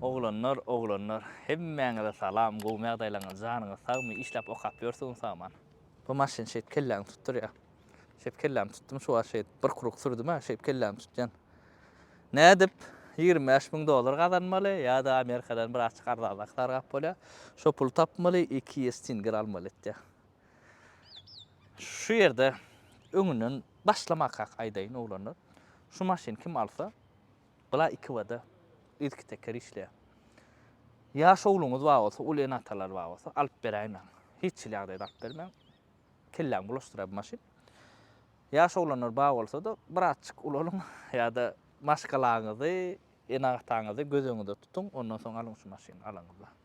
Oglanlar oglanlar hemmäňize salam gowmy ýagdaýlaňyz janyňyz sagmy işläp okap ýörsiňiz saman. Bu maşyn şeýt kelläňi tutdurýa. Şeýt kellämi tutdum şu wagt şeýt bir kuruk sürdüma şeýt kellämi tutýan. Nädip ýigrimi bäş müň dollar gazanmaly ýada amerikadan biraz çyk arzanrak sargap bolýa. Şo puly tapmaly iki ýestinger almaly etýä. Şu ýerde öňünden başlamakak aýdaýyn oglanlar, şu maşyny kim alsa, bula iki bada yzky teker işleýär. Ýaş ogluňyz bar bolsa, uly ene-atalar bar bolsa, alyp beräýmäň. Hiç hili ýagdaýda alyp bermäň. Kelläňi bulaşdyrar bu maşyn. Ýaş oglanlar bar bolsa-da, birazçyk ulalyň ýa-da maşgalaňyzy, ene-ataňyzy göz öňünde tutuň, ondan soň alyň şu maşyny alaňyzda.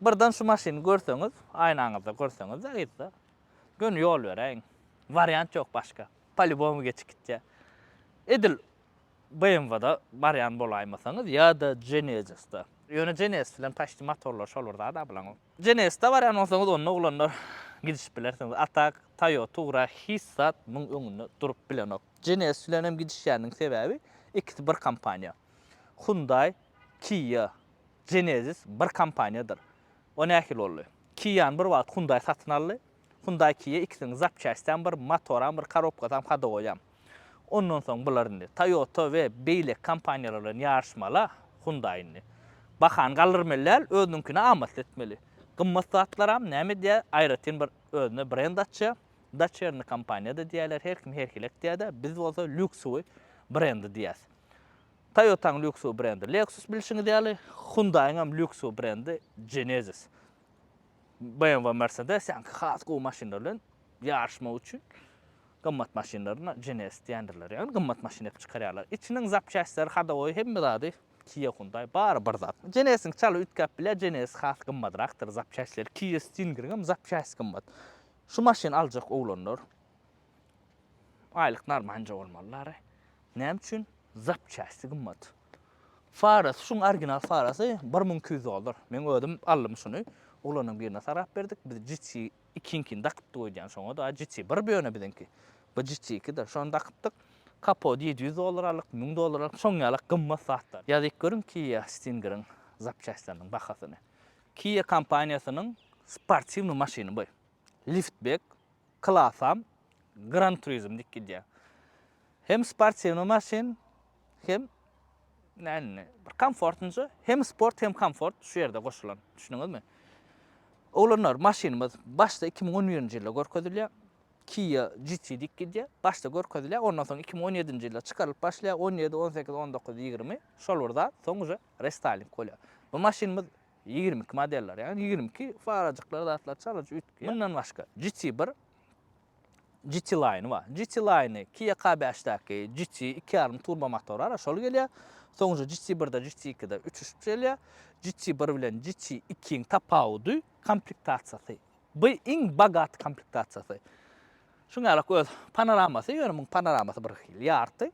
Birden şu maşyny görseňiz, aýnaňyzda görseňiz-de yzda, göni ýol beräýiň. Wariant ýok başga. Polýubomu geçip gitýär. Edil BMW-da barýan bolaýmasaňyz ýa-da Genesis-de. Ýöne Genesis bilen paçti motorlary şol bir zat-a bularyň. Genesis-de barýan bolsaňyz onda oglanlar gidişip bilersiňiz. A tak Toyota Tugra hiç zat muň öňünde durup bilenok. Genesis bilen hem gidişýändigiň sebäbi ikisi bir kompaniýa. Hyundai, Kia. Genesis bir kompaniýadyr. O nähili boldy? Kia-ny bir wagt Hyundai satyn aldy. Hyundai Kia ikisiniň zapçastysam bir, motoram bir, korobkasam, hodowoýam. Ondan soň bular indi Toyota we beýleki kompaniýalar bilen ýaryşmaly-a Hyundai indi. Bahany galdyrmaly däl, özüniňkini amatly etmeli. Gymmat zatlaram näme edýär, aýratyn bir özüne brend açýar. Doçerny kompaniýa-da diýýärler, her kim her hili aýtýar-da, biz bolsa lýuksowy brendi diýýäs. Toyota-nyň lýuksowy brendi Lexus bilşiňiz ýaly, Hyundai-yň hem lýuksowy brendi Genesis. BMW we Mercedes ýaňky has gowy maşynlar bilen ýaryşmak üçin gymmat maşynlaryna Genesis diýendirler. Ýagny gymmat maşyn edip çykarýarlar. Içiniň zapçastleri, hadowoýy hemme zady Kia Hyundai bary bir zat. Genesisiň çaly üýtgäp bilýär, Genesis has gymmadrakdyr zapçastleri. Kia Stingeriň hem zapçasti gymmat. Şu maşyn aljak oglanlar Aýlyk narmanca bolmaly lary. Näme üçin? Zapçasty gymmat. Farasy şuň original farasy bir müň iki ýüz dollar. Meň özüm aldym şuny. Oglanyň birine sarap berdik. Biz GT ikiňkini dakypdyk öýdýän şoňa da. GT bir bu ýöne biziňki. Bu GT iki de. Şony dakypdyk. Kapody ýedi ýüz dollar aldyk, müň dollar aldyk. Şoň ýalak gymmat zatlar. Ýazyp görüň Kia Stingeriň zapçastlarynyň bahasyny. Kia kompaniýasynyň sportiwnyý maşyny bu. Liftbek Klasam Gran Turismo dik gidýär. Hem sportiwnyý maşyn, hem näme, bir komfortnja, hem sport, hem komfort şu ýerde goşulan. Düşündiňizmi? Oglanlar, maşynymyz başda iki müň on birinji ýylda görkezilýär. Kia GT dik gidýär. Başda görkezilýär, ondan soň iki müň on ýedinji ýylda çykarylyp başlaýar, on ýedi, on sekiz, on dokuz, ýigrimi, şol bir zat, soň uje restyling bolýar. Bu maşynymyz Ýigrimi iki modeller, ýagny ýigrimi iki farajyklar zatlar çalyjy üýtgeýär. Mundan başga, GT bir, GT Line bar. GT Line-i Kia K bäşdäki GT iki ýarym turbo motory bar, şol gelýär. Soňra GT birde, GT ikide üçüş gelýär. GT bir bilen GT ikiň tapawudy komplektasiýasy. Bu iň bogaty komplektasiýasy. Şuňa ýarak öz panoramasy, ýöne muň panoramasy birhili ýarty.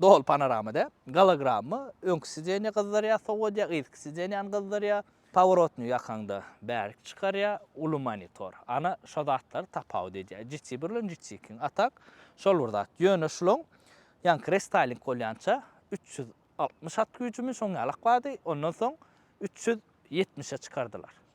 Doly panorama däl. Gologramma, öňki sidenýa gyzdyrýar, sowadýar, yzky sidenýany gyzdyrýar. Paworotnyý ýakaňda bärik çykarýar. Uly monitor. Ana, şo zatlar tapawut edýär. GT bir bilen GT ikiň. A tak, şol bir zat. Ýöne şulaň ýaňky restaýling bolýança üç ýüz altmyş at güýjümi şoň ýalak bardy, ondan soň üç ýüz ýetmişe çykardylar.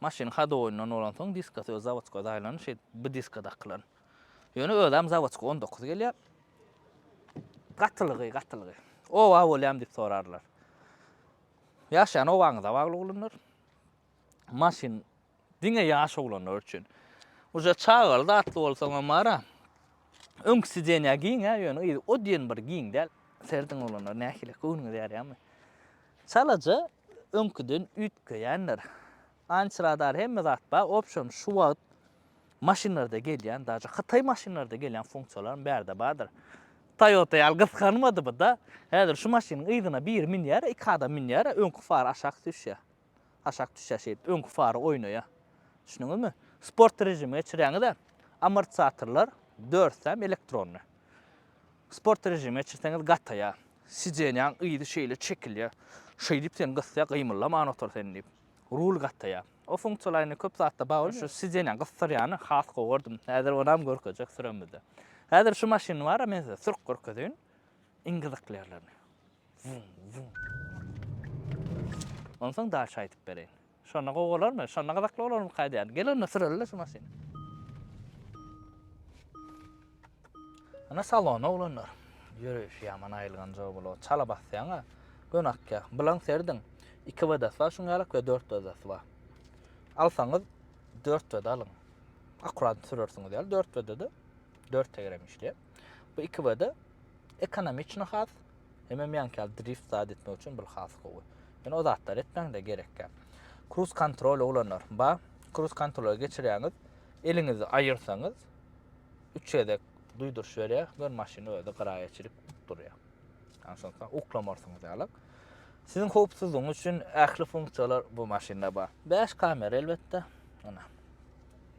Maşyn hodowynyň bolansoň diskasy öz zawodka daýlan şeýdip bu diska dakylan. Ýöne özem zawodka on dokuz gelýär. Gatylygy, gatylygy. Oba bolýam diýip sorarlar. Ýaşaýan obaňyza bagly oglanlar. Maşyn diňe ýaş oglanlar üçin. Uje çagaly zatly bolsaňam bara. Öňki sidenýa giňä ýöne yzy o diýen bir giň däl. Serediň oglanlar nähili göwnüňiz ýarýamy. Çalaja öňküden üýtgeýändir. Anç radar hemme zat bar, opşon şu wagt maşynlarda gelýän, daže hytaý maşynlarda gelýän funksiýalaryň bärde bardyr. Toyota ýaly gysganmady bu da. Häzir şu maşynyň yzyna biri münýär, iki adam münýär, öňki far aşak düşýär. Aşak düşýär şeýdip, öňki fary oýnaýar. Düşündiňizmi? Sport režime geçirýäňiz-ä, amortizatorlar dörsi hem elektronny. Sport režime çirseňiz gataýar. Sidenýaň yzy şeýle çekilýär. Şeýdip seni gysýar, gymyldaman otur sen diýip. Rul gataýar. O funksiýalar indi köp zatda bagly. Şu sidenýaň gysdyrýany has gowy gördüm. Häzir onam görkezjek süremizde. Häzir şu maşyny bar-a men size sürüp görkezeýin. Iň gyzykly ýerlerini. Wum, wum. Onsoň daşy aýdyp bereýin. Şonda gowy bolarmy? Şonda gyzykly bolarmyka aýdýan. Gel onda süreli-de şu maşyny. Ana salona oglanlar. Ýöreýşi ýaman aýylgan joý bolup, çala basýaň-a. Göni akýa. Bulaň serediň. Iki WD-si bar şuň ýalyk we dört WD-si bar. Alsaňyz dört WD alyň. Akurat sürersiňiz ýaly dört WD-de dört tegerem işleýär. Bu iki WD ekonomiçno has, Hemem ýaňky ýaly drift zat etmek üçin bul has gowy. Ýöne o zatlar etmäňde gerekgäp. Cruise control ulanlar ba. Cruise control geçirýäňiz, eliňizi aýyrsaňyz üç gezek duýduryş berýär, gör maşyn özi gyraýa çirip durýar. Ýani şonda uklamarsyňyz ýalyk. Siziň howpsuzlygyňyz üçin ähli funksiýalar bu maşynda bar. Bäş kamera elbetde. Ana.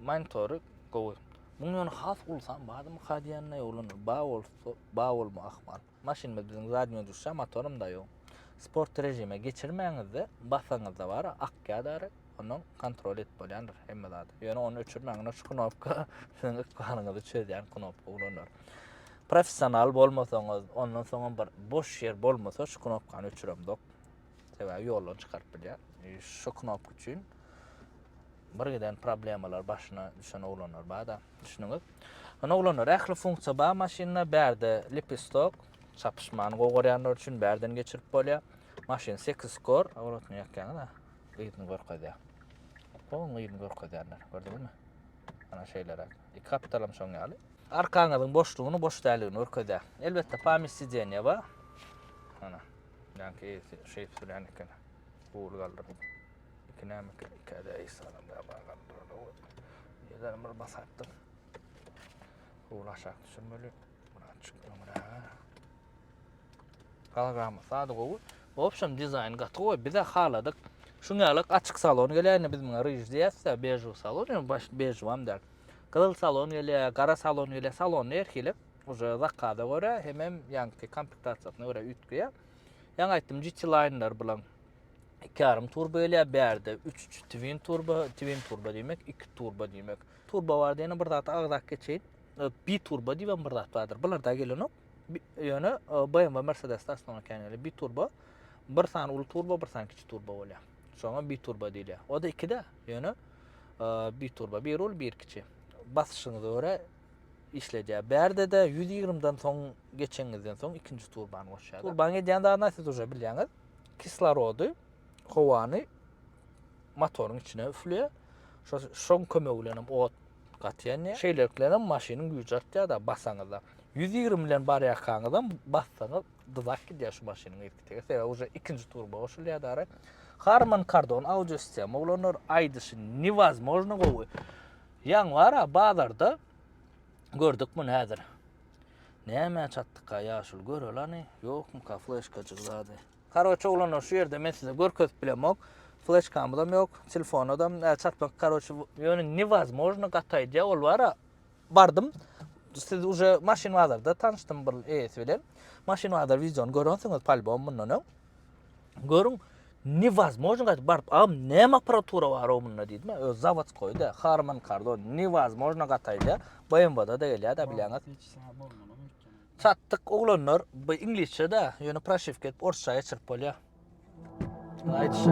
Monitory gowy. Muň ýöne has ulusam barmy ka diýende ýoglanyr. Ba bolsa, ba bolma ahmal. Maşynymyz biziň zadnýo duşa motorumda ýok. Sport režime geçirmäňizde basaňyzda bar ak ýadary ondan kontrol edip bolýandyr hemme zady. Ýöne ony öçürmäň ine şu knopka siziň ykbalyňyzy çözýän knopka ulanlar. Professional bolmasaňyz ondan soňam bir boş ýer bolmasa şu knopkany öçüremzok. Sebäbi ýoldan çykaryp bilýär. E, şu knopka üçin bir giden problemalar başyna düşen oglanlar bada. Düşündüňiz? Ony oglanlar ähli funksiýa bar maşynda, bärde lipistok, çapyşmany gowy görýänler üçin bärden geçirip bolýar. Maşyn 8 skor, awratny ýakýaňyz ha. Gyýyny görkezýär. Bu gyýyny görkezýärler, gördüňizmi? Ana şeýleräk. Iki kapitalam şoň ýaly. Arkaňyzyň boşlugyny, boş däligini görkezýär. Elbetde pamýat sidenýe bar. Ana, ýanky eýesi şeýip sürýän eken. Gury galdyryp. Iki näme iki, iki ede eý salam da bagan durada we ýedan bir basatdyr. Howla aşak düşürmeli. Buna açyk öňra. Galgamy sady gowy. Opşam dizaýn gaty gowy. Bize haladyk. Şuň ýaly açyk salon gelýärdi biz muňa rij diýýäs-de, bežu salon, ýöne baş bežu hem däl. Gyzyl salon gelýär, gara salon gelýär, salon her hili. Uje zakaza görä, hemem ýaňky komplektasiýasyna görä üýtgeýär. Ýaňy aýtdym, GT Liner bilen iki yarım turba gelýär, bärde üç twin turba, twin turba diýmek, iki turba diýmek. Turba barda ýene bir zat agzak geçeýin. E, bi turba diýen bir zat bardyr. Bular da gelenok. Ýöne e, BMW Mercedes-de aslynda kän gelýär. Bi turba, bir sany uly turba, bir sany kiçi turba bolýar. Şoňa bi turba diýilýär. O da ikide, ýöne e, bi turba, bir uly, bir kiçi. Basyşyňyza görä işledýär. Bärde de 120-den soň geçeňizden soň ikinji turbany goşýar. Turban edýän zadyny siz uje bilýäňiz. kislorody, howany motoryň içine üflüyor. Şo şoň kömegi bilen hem ot gatýan ýa. Şeýlelik bilen hem maşynyň güýji artýar-da basaňyzda. 120 bilen barýarkaňyz hem bassaňyz dyzak gidýär şu maşynyň irki tege. Sebäbi uje ikinji turba goşulýar dara. Harman Kardon audio sistema oglanlar aýdyşy newazmojno gowy. Ýaňy bar-a bazarda gördük muny häzir. Nämä çatdyka ýaşuly görelany ýokmyka fleşkajyk zady. Karoçe oglanlar şu ýerde men size görkezip bilemok. Fleşkamyzam ýok, telefonadam näçe çatmak karoçe. Ýöne newazmojno gaty aýdýa ol bara bardym siz uje maşyn bazarda tanyşdym bir eýesi bilen. Maşyn bazar wideony görensiňiz palbom mundan öň. Görüň, newazmojno gaýdyp baryp, agam näme apparatura bar o munda diýdim. Öz zawodskoýda, Harman Kardon, newazmojno gataýda, BMW-da da gelýär da bilýäňiz. Çatdyk oglanlar, bu iňlisçe de, ýöne proşewka edip orsça geçirip bolýar. Aýdyşy.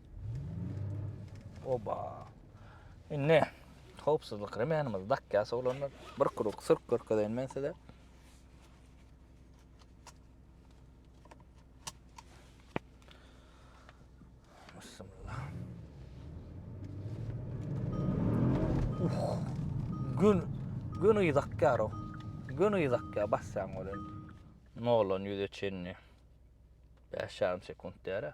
Oba. Indi howpsuzlyk remenimizi dakýas oglanlar. Bir kruk sürk görkezeýin men size. Bismillah. Uh. Gün gün ýakýar o. Gün ýakýar basýan bolan. Nolan ýüze çenli. 5 ýarym sekunt däre.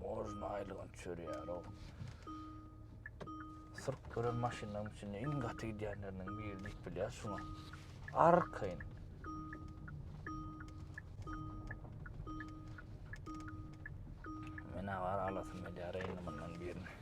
Mozna aýlygyn çörýär-ow. Syryp gören maşynlaryň içinde iň gaty gidýänleriniň biri diýip bilýär şuňa. Arkaýyn. Men agar alasym gelýär eýni mundan birini.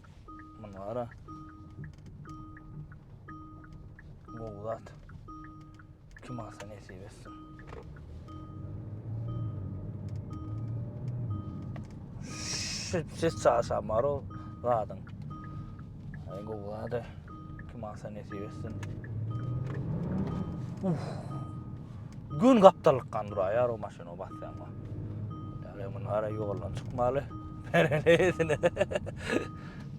Muny gara. Gowy zat. Kim alsa nesip etsin. Şübsiz çarşamar o zadyn. Ay gowy zady. Kim alsa nesip etsin. Uf. Gün gaptallyk kan duraýar o maşyny o basýan wa. Ýa men ara ýoldan çykmaly. Bereneýsine.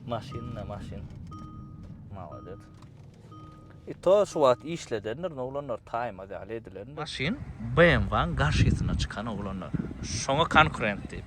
maşyn ne maşyn. Mawdet. E to şu wagt işledendir, ne olanlar taýmaz ýaly edilendir. Maşyn BMW-niň garşysyna çykan oglanlar. Şoňa konkurent diýip.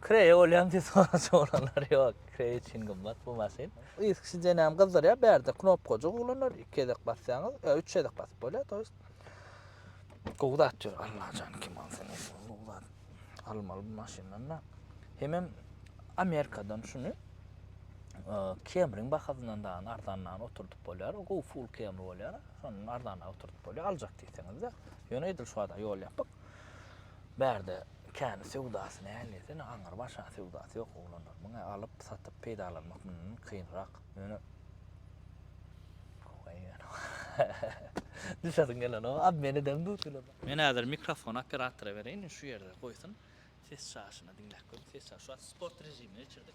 Kreýe bolýan diýip soraja bolanlar ýok. Kreý üçin gymmat bu maşyn. Yzky jenäm gyzdyrýar. Bärde knopkajyk uglanlar. Iki gezek basýaňyz. Ýa üç gezek basyp bolýar to ýest. Gowy zat ýör Allajan kim alsa nesi bor gowy zat. Almaly bu maşyndan-da. Hemem Amerikadan şuny Kemriň bahasyndan dagyny arzanragyny oturdyp bolýar. Gowy full Kemri bolýar. Şondan arzanragy oturdyp bolýar. Aljak diýseňiz-de. Ýöne edil şu wada ýol ýapyk. Bärde kän söwdasy näl desene aňyr başa söwdasy ýok oglanlar muňa alyp satyp peýdalanmak mundan kynrak ýöne Howwa ýöne düşesiň gelenok obmen edem duz kilo. Men häzir mikrofony operatora bereýin şu ýerde goýsun ses çaşyny diňläp görüň ses çaşy şu wagt sport režimine geçirdik.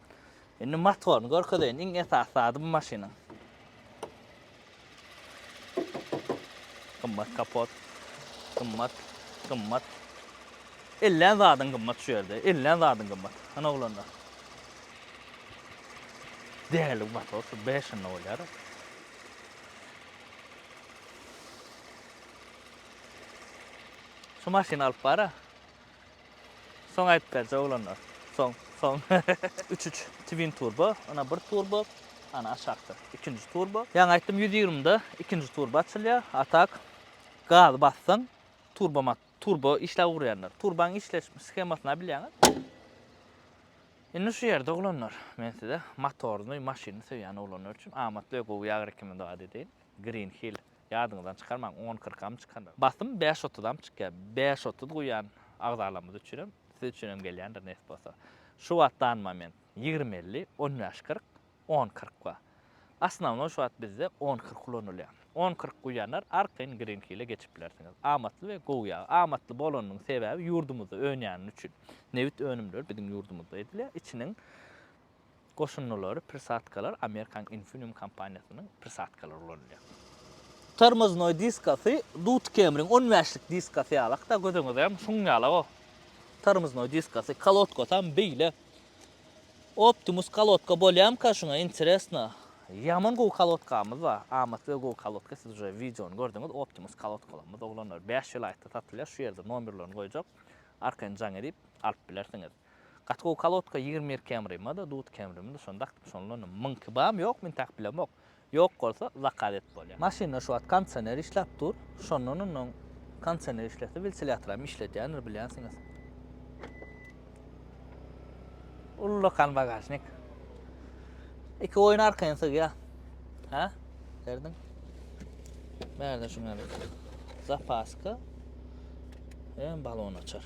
Indi motoryny görkezeýin. Iň esasy zady bu maşynyň. Gymmat kapot. Gymmat, gymmat. Ellän zadyň gymmat şu ýerde. Ellän zadyň gymmat. Ana oglanlar. Değerli bir motor. Şu 5 yılda olyar. Şu maşını alıp bara. Soň aýdyp berje oglanlar soň soň. Üç üç twin turbo ana bir turbo ana aşakda ikinji turbo ýaňy aýtdym ýüz ýigrimide ikinji turbo açylýar a tak gazy bassaň turbo mat turbo işläp urýandyr turbaň işleş shemasyna bilýäňiz indi şu ýerde oglanlar men size motorny maşyny söýýän oglanlar üçin amatly we gowy ýagry kimi dady deýin green hill Ýadyňyzdan çykarmaň, on kyrkam çykandyr. Basym bäş otuzam çykýar. Bäş otuz guýýan agzalarymyz üçinem, siz üçinem gelýändir nesip bolsa. Şu wagt dan moment ýigrimi elli, on bäş kyrk, on kyrk bar. Osnownoý şu wagt bizde on kyrk ulanylýar. On kyrk guýýanlar arkaýyn Green Hill-e geçip bilersiňiz. Amatly we gowy ýag. Amatly bolanynyň sebäbi ýurdumyzda önýäni üçin. Nebit önümleri biziň ýurdumyzda edilýär. Içiniň Goşundylary, prisatkalar, Amerikanyň Infineum kompaniýasynyň prisatkalary ulanylýar. Tormoznoý diskasy Dut Kemriň on bäşlik diskasy ýaly, hatda göz öňüňizde hem şuň ýaly o tormoznoý diskasy. Kolodkasy hem beýle. Optimus kolodka bolýamyka şuňa interesno. Ýaman gowy kolodkamyz bar. Amatly we gowy kolodka siz uje wideony gördüňiz. Optimus kolodkalarymyz oglanlar bäş welaýatda satylýar. Şu ýerde nomerlerini goýjak. Arkaýyn jaň edip alyp bilersiňiz. Gaty gowy kalotka ýigrimi bir kemrima da dut kemrimi da şony dakdyp şondanam myňki bam ýok men takyp bilemok ýok bolsa zakaz et bolýa. Maşynda şu wagt kondisioner işläp dur, şondan ondan kondisioner işlese wiltilýatoram işledýändir bilýänsiňiz. Ullakan bagažnik. Iki goýun arkaýyn sygýa. Hä? Berdiň. Bärde şuň ýaly zapaska. Hem balon açar.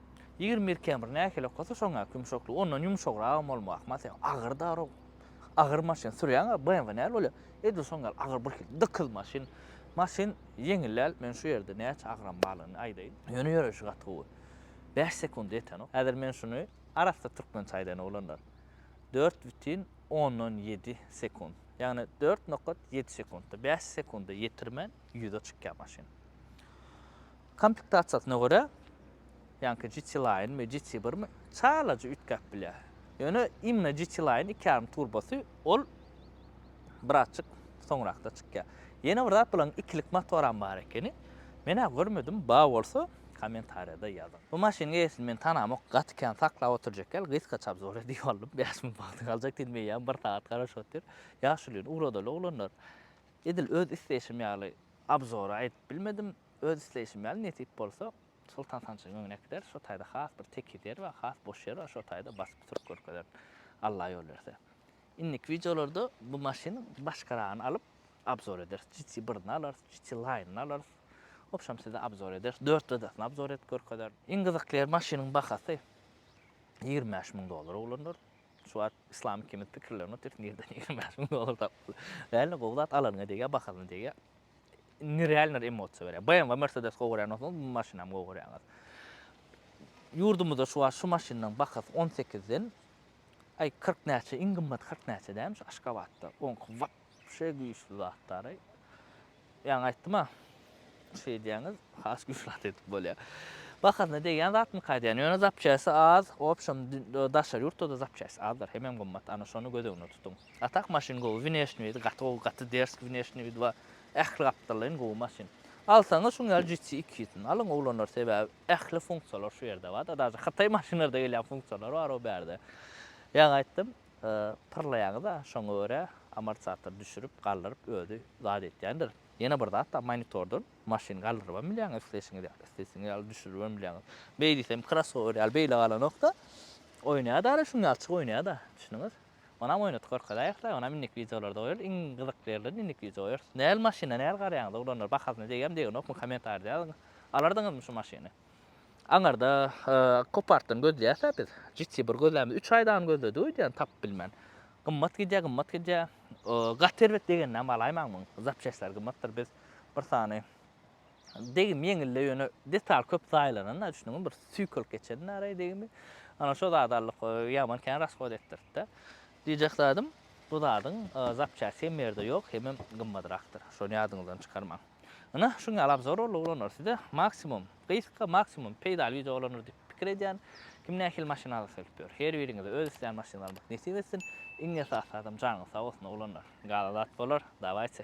Ýigrimi bir km nähili okasa şoňňäki ýumşaklygy ondan ýumşagragam bolmagy ahmal sebäbi agyr darag agyr maşyn sürýäň a bmw näl bolýa edil şoň ýaly agyr bir hil dykyz maşyn maşyn ýeňil däl men şu ýerde näçe agram barlygyny aýdaýyn ýöne ýöreýşi gaty gowy bäş sekunda ýetenok häzir men şuny arassa türkmençe aýdaýyn oglanlar dört bütin ondan ýedi sekund ýagny dört nokat ýedi sekundda bäş sekunda ýetirmän ýüze çykýa maşyn. Komplektasiýasyna görä, ýaňky GT Line mi, GT bir mi, çalaja üýtgäp bilýär. Ýöne imna GT Line iki ýarym turbosy, ol birazjyk soňrakda çykýar. Ýene bir zat, bularyň ikilik motoram bar ekeni. Men-ä görmedim, bar bolsa, kommentariýada ýazyň. Bu maşynyň eýesini men tanamok, gaty kän saklap otyrjak ýaly, gysgaça obzor edip aldym. Bäş müň wagty galjak diýdim, eýýäm bir sagat garaşyp otyr. Ýaşulyny ugradaly oglanlar. Edil öz isleýşim ýaly obzory aýdyp bilmedim. Öz isleýşim ýaly nesip bolsa, Soltan sanjym öňüne gider, şo taýda has bir tekiz ýer bar, has boş ýer bar, şo taýda basyp sürüp görkezerin. Alla ýol berse. Indiki wideolarda bu maşynyň başgaragyny alyp, obzor ederis. GT birini alarys, GT Line-yny alarys. Wobşem size obzor ederis. Dört rydasyny obzor edip görkezerin. Iň gyzykly ýeri maşynyň bahasy ýigrimi bäş müň dollara oglanlar. Şu wagt Islam ikimiz pikirlenip otyrys nirden ýigrimi bäş müň dollar tapyp. Däli gowy zat alanyňa degýär, bahasyna degýär. nerealnyr emosiýa berýär. BMW, Mercedes gowy görýän bolsaňyz, bu maşynam gowy görýäňiz. Ýurdumyzda şu wagt şu maşynyň bahasy 18 den aý 40 näçe, iň gymmaty 40 näçe dämi şu Aşgabatda. Oňky wapşe güýçli zatdary. Ýaňy aýtdym-a, şey diýýäňiz, has güýçli zat edip bolýar. Bahasyna degýän zatmyka aýdýan, ýöne zapçasty az, obşem daşary ýurtda-da zapçasty azdyr, hemem gymmat, ana şony göz öňünde tutuň. A tak maşyn gowy wineşni widi gaty gowy gaty derski wineşni widi bar ähli gapdallaýyn gowy maşyn alsaňyz şuň ýaly GT iki ýüzüni alyň oglanlar sebäbi ähli funksiýalar şu ýerde bar da daže hytaý maşynlarda gelýän funksiýalar bar o bärde ýaňy aýtdym pyrlaýaňyz a şoňa görä amortizator düşürip galdyryp özi zat etýändir ýene bir zat da monitordan maşyny galdyrybam bilýäňiz isleýşiňiz ýaly isleýşiňiz ýaly düşüribem bilýäňiz beýdisem krossower ýaly beýle galanok da oýnaýa daže şuň ýalyçyk oýnaýa da düşündiňiz Onam oýnadyk görkezaýew-la, onam indiki wideolarda goýarys, iň gyzykly ýerlerini indiki wideo goýarys. Näl maşyna näl garaýaňyz oglanlar bahasyna degýämi degenokmy komentarda ýazyň. Alardyňyzmy şu maşyny. Aňyrda kopartdan gözleýäsä biz. GT bir gözlämiz üç aýdan gözledik öýdýän tapyp bilmän. Gymmat gidýä gymmat gidýä. Gaty erbet degenini hem alaýmaň muň zapçestleri gymmatdyr biz bir sany Degim ýeňildi ýöne detal köp zaýalananda düşnüňmi bir süýkelip geçendi araý degimi. Ana şo zady aldyk ýaman kän rasgod etdiripdi. Diýjek zadym bu zadyň zapçasty hem ýerde ýok hemem gymmadrakdyr. Şony ýadyňyzdan çykarmaň. Ynha şuň ýaly abzor boldy oglanlar size maksimum gysga maksimum peýdaly wideo bolandyr diýip pikir edýän. Kim nähili maşyn algysy gelip ýör. Her biriňize öz islän maşynyny almak nesip etsin. Iň esasy zadam janyňyz sag bolsun oglanlar. Galan zat bolar. Dawayçe.